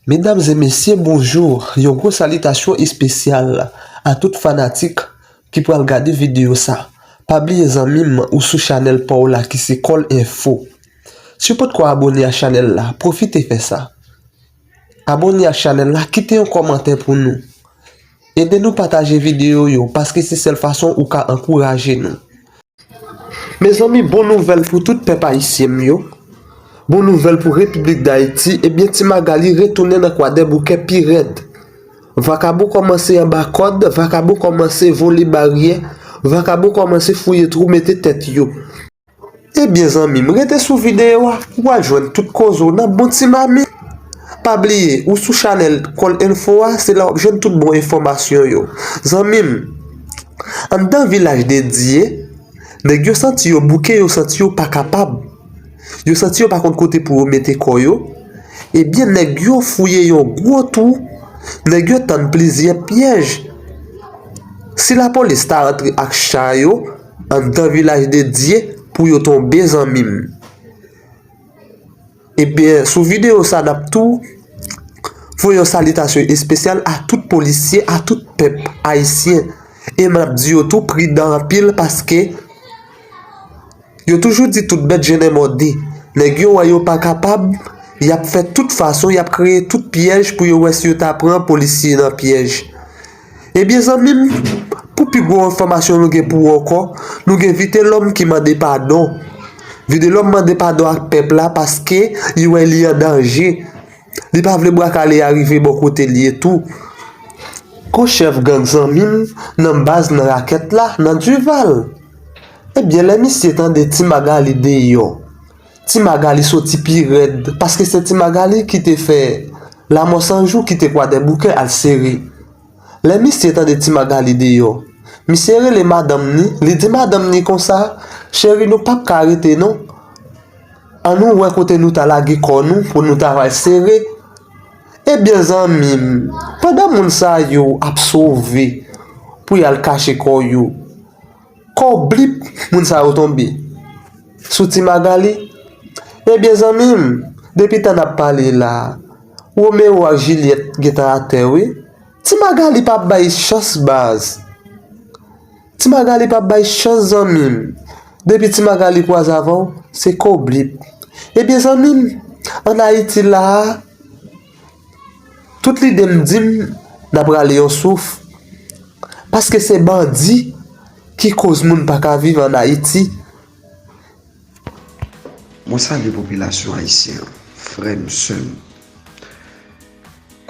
Medam e mesye bonjou, yon gwo salitasyon espesyal a tout fanatik ki pral gade videyo sa. Pa bliye zanmi m ou sou chanèl pa w la ki se Kòl Enfo. Si w potko abone a chanèl la, pwofite fè sa. Abone ak chanèl la kite yon kòmantè pou nou. Ede nou pataje videyo yo paske se sèl fason ou ka ankouraje nou. Mezanmi bon nouvèl pou tout pèp ayisyen m yo, bon nouvèl pou repiblik dayiti ebyen ti Magalie retounen nan kwadèboukè pi rèd vakabon kòmanse anba kòd vakabon kòmanse vole baryè vakabon kòmanse fouye twou mete tèt yo. Ebyen zanmim rete sou video a ou al jwenn tout koze w nan bon ti mami. Pa bliye ou sou chanèl kòl enfo a se la wap jwenn tout bon enfòmasyon yo. Zanmim anndan vilaj de Dye nèg yo santi yo bouke yo santi yo pa kapab yo santi yo pa konn kote pou yo mete kò yo ebyen nèg yo fouye yon gwo twou nèg yo tann plizyè pyèj si lapolis ta antre ak cha yo Andan vilaj de Dye pou yo tonbe zanmim. Ebyen sou video sa nap tou Voye yon salitasyon espesyal a tout polisye a tout pèp ayisyen e map di yo tou pridan anpil paske yo toujou di tout bèt je nè mòde nèg yo wè yo pa kapab yap fè tout fason yap kreye tout pyèj pou yo wè si yo ta pran polisye nan pyèj. Ebyen zanmi m, pou pi gwo enfòmasyon nou gen pou ou ankò, nou gen Vitelòm ki mande padon. Videlòm mande padon ak pèp la paske li wè li an danje. Li pa vle bwa kale a rive bò kote li tou. Gwo chèf gang zanmi m nan baz nan rakèt la nan Duval. Ebyen lè misye tande ti Magali deyò. Ti Magali soti pi rèd paske se Ti Magali ki te fè Lamò 100 jou kite Kwadèboukè al sere. Lè misye tande Ti Magali deyò, misye rele madanm ni, li di madanm ni konsa, Cheri nou pap ka rete non, an nou wè kote nou ta lage kò nou pou nou ta al sere. Ebyen zanmi m, pandan moun sa yo ap sove pou y al kache kò yo, Kò blip moun sa yo tonbe sou ti Magalie ebyen zanmim depi tan nap pale la Roméo ak Juliette gentan atè wi ti Magalie pa bay chans baz ti Magalie pa bay chans zanmim depi ti Magalie kwaze avèw se kò blip ebyen zanmim an Haïti la. Tout lide m di m nap rale yon souf paske se bandi ki koz moun pa ka viv an Ayiti. Mwen salye popilasyon ayisyen an, frè m, sè m,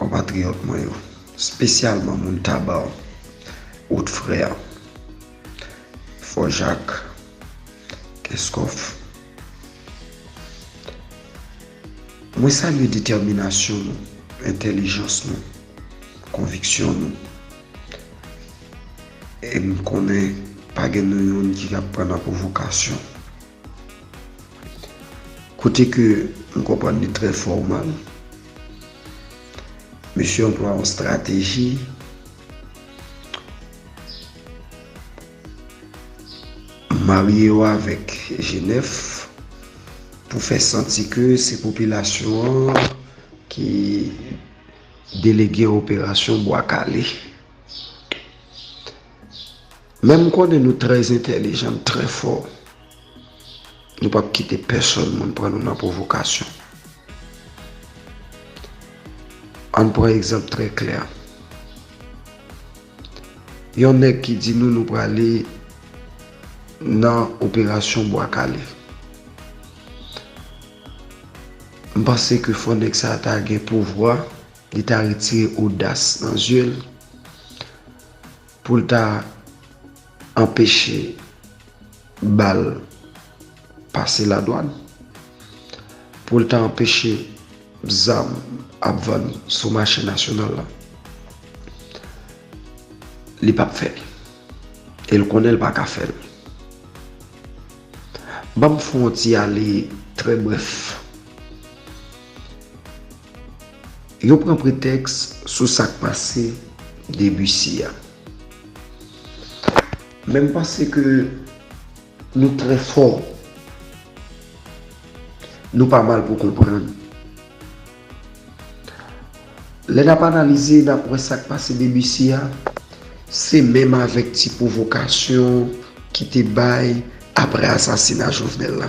konpatriyòt mwen yo, spesyalman moun Taba, Haut Frère, Fò Jak, Kenskòf. Mwen salye detèminasyon nou, entèlijans nou, konviksyon nou. E m konnen pa gen nou youn ki ap pran nan pwovokasyon. Kote ke m konprann li trè fòmal, mesye anplwa yon estrateji. Marye yo avèk Jenèf pou fè santi ke se popilasyon an ki delege operasyon Bwa Kale. Men m konnen nou trè entèlijan, nou trè fò. Nou pap kite pèsòn moun pran nou nan pwovokasyon. Ann pran egzanp trè klè. Yon nèg ki di nou nou prale nan operasyon Bwa Kale. M panse ke fò nèg sa a ta gen pouvwa, li ta retire odas nan zye l. Pou l ta anpeche bal pase ladwann, pou l ta anpeche zam ap vann sou mache nasyonal la, li pap fè l. E l konnen l pa ka fè l. Ban m fè yon ti ale trè brèf. Yo pran pretèks sou sa k pase Debussy a. Men m panse ke nou trè fò. Nou pa mal pou konprann. Lè n ap analize, n ap wè sa k pase Debussy a, se menm avèk ti pwovokasyon ki te bay apre asasina Jovenel la.